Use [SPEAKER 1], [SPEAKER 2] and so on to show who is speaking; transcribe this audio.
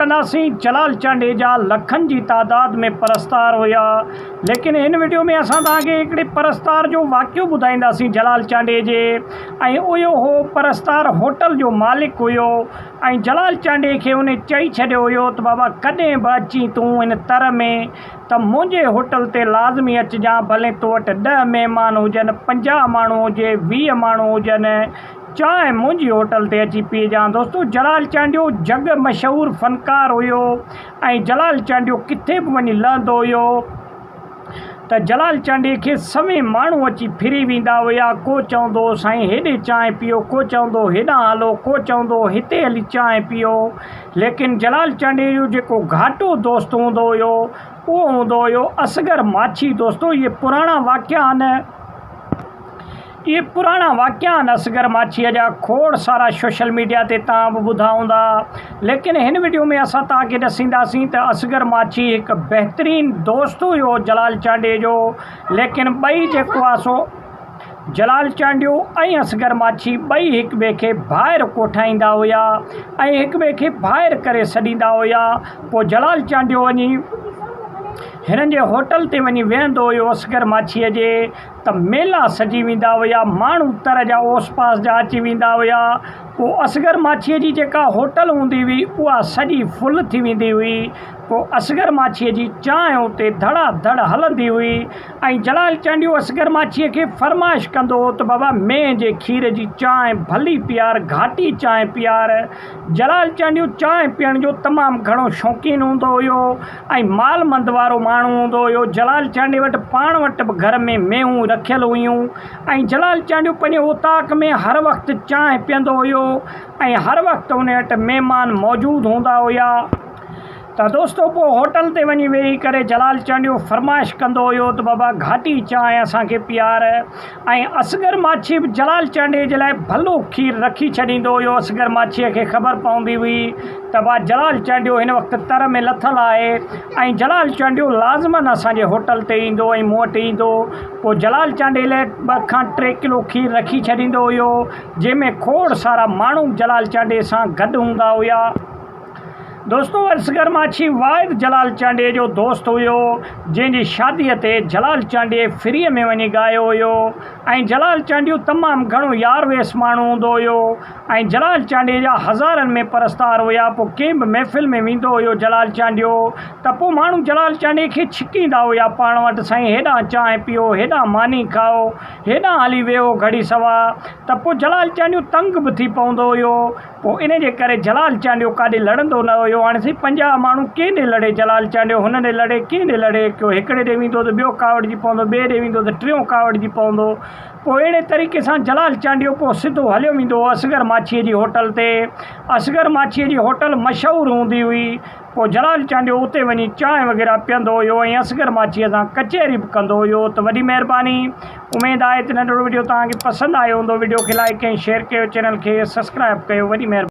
[SPEAKER 1] تناسين جلال چانڊيي جا لکن جي تعداد ۾ پرستار هيا ليڪن هن وڊيو ۾ اسان توهان کي هڪڙي پرستار جو واقعو ٻڌائينداسين جلال چانڊيي جي ۽ اهو هو پرستار هوٽل جو مالڪ هيو ۽ جلال چانڊيي کي ان چئي ڇڏيو هيو ته بابا ڪڏهن به اچين تون ان تر ۾ ته منهنجي هوٽل تي لازمي اچجان ڀلين تو وٽ ڏهه مهمان هجن پنجاهه ماڻهو هجي ويهه ماڻهو هجن چانهه منهنجي هوٽل تي اچي پيئجان دوستو جلال چانڊيو جڳ مشهور فنڪار هيو ۽ جلال چانڊيو ڪٿي به وڃي لهندو هيو ته جلال چانڊيي کي سوين ماڻهو اچي ڦري ويندا هيا ڪو چوندو هو سائين هيڏي چانهه پيئو ڪو چوندو هو هيڏانهن هلو ڪو چوندو هو هتي هلي چانهه پيئو ليڪن جلال چانڊيي جو جيڪو گهاٽو دوست هوندو هيو اهو هوندو هيو اصغر ماڇي دوستو اهي پراڻا واقعا آهن اهي پراڻا واقعا آهن اصغر ماڇيء جا کوڙ سارا سوشل ميڊيا تي توهان به ٻڌا هوندا ليڪن هن وڊيو ۾ اسان توهان کي ڏسينداسين ته اصغر ماڇي هڪ بهترين دوست هيو جلال چانڊيي جو ليڪن ٻئي جيڪو آهي سو جلال چانڊيو ۽ اصغر ماڇي ٻئي هڪ ٻئي کي ڀائر ڪوٺائيندا هيا ۽ هڪ ٻئي کي ڀائر ڪري سڏيندا هيا پوء جلال چانڊيو وڃي هنن جي هوٽل تي وڃي ويهندو هيو اصغر ماڇيء جي ته ميلا سجي ويندا هيا، ماڻهو تر جا اوس پاس جا اچي ويندا هيا، پوء اصغر ماڇيء جي جيڪا هوٽل هوندي هئي، اها سڄي فل ٿي ويندي هئي، پوء اصغر ماڇيء جي چانهه اتي ڌڙا ڌڙ هلندي هئي ۽ جلال چانڊيو اصغر ماڇيء کي فرمائش ڪندو هو ته بابا مينهن جي کير جي چانهه ڀلي پيار، گهاٽي چانهه پيار. جلال چانڊيو چانهه پيئڻ جو تمام گهڻو شوقين هوندو هيو. ۽ مال مند وارو ماڻهو هوندو هيو جلال چانڊيي وٽ پاڻ وٽ به گهر ۾ مينهون رکيل هيون ۽ جلال چانڊيو پنهنجي اوطاق ۾ هر وقت چانهه پيئندو هيو ۽ هر وقت ان وٽ مهمان موجود هوندا هيا ته دوستو پوء هوٽل تي وڃي ويهي ڪري جلال چانڊيو فرمائش ڪندو هيو ته بابا گهاٽي چانهه اسان کي پيار ۽ اصغر ماڇي به جلال چانڊيي جي لاء ڀلو کير رکي ڇڏيندو هيو. اصغر ماڇيء کي خبر پوندي هئي ته واهه جلال چانڊيو هن وقت تر ۾ لٿل آهي ۽ جلال چانڊيو لازمن اسان جي هوٽل تي ايندو ۽ مون وٽ ايندو. پوء جلال چانڊيي لاء ٻه کان ٽي ڪلو کير رکي ڇڏيندو هيو، جنهن ۾ کوڙ سارا ماڻهو به جلال چانڊيي سان گڏ هوندا هيا. دوستو اصغر ماڇي واحد جلال چانڊيي جو دوست هيو جنهن جي شادي تي جلال چانڊيي فري ۾ وڃي ڳايو هيو ۽ جلال چانڊيو تمام گهڻو يار ويس ماڻهو هوندو هيو ۽ جلال چانڊيي جا هزارن ۾ پرستار هيا پو ڪنهن به محفل ۾ ويندو هيو جلال چانڊيو ته پو ماڻهو جلال چانڊيي کي ڇڪيندا هيا پاڻ وٽ سائين هيڏانهن چانهه پيئو هيڏانهن ماني کائو هيڏانهن هلي ويهو گهڙي سوا ته پو جلال چانڊيو تنگ به ٿي پوندو هيو پوء ان جي ڪري جلال چانڊيو ڪاڏي لڙندو نه هيو. هاڻي سائين پنجاهه ماڻهو ڪنهن ڏي لڙي؟ جلال چانڊيو هن ڏي لڙي، ڪنهن ڏي لڙي؟ ڪيو هڪڙي ڏي ويندو ته ٻيو ڪاوڙجي پوندو، ٻئي ڏي ويندو ته ٽيون ڪاوڙجي پوندو. پوء اهڙي طريقي سان جلال چانڊيو پوء سڌو هليو ويندو هو اصغر ماڇيء جي هوٽل تي. اصغر ماڇيء جي هوٽل مشهور هوندي هئي. پوء جلال چانڊيو اتي وڃي چانهه وغيره پيئندو هيو ۽ اصغر ماڇيء سان ڪچهري به ڪندو هيو ته وڏي مهرباني اميد آهي ته ننڍڙو وڊيو توهان کي پسند آيو هوندو وڊيو کي لائيڪ ۽ شيئر ڪيو چينل کي سسڪرائب ڪيو وڏي مهرباني.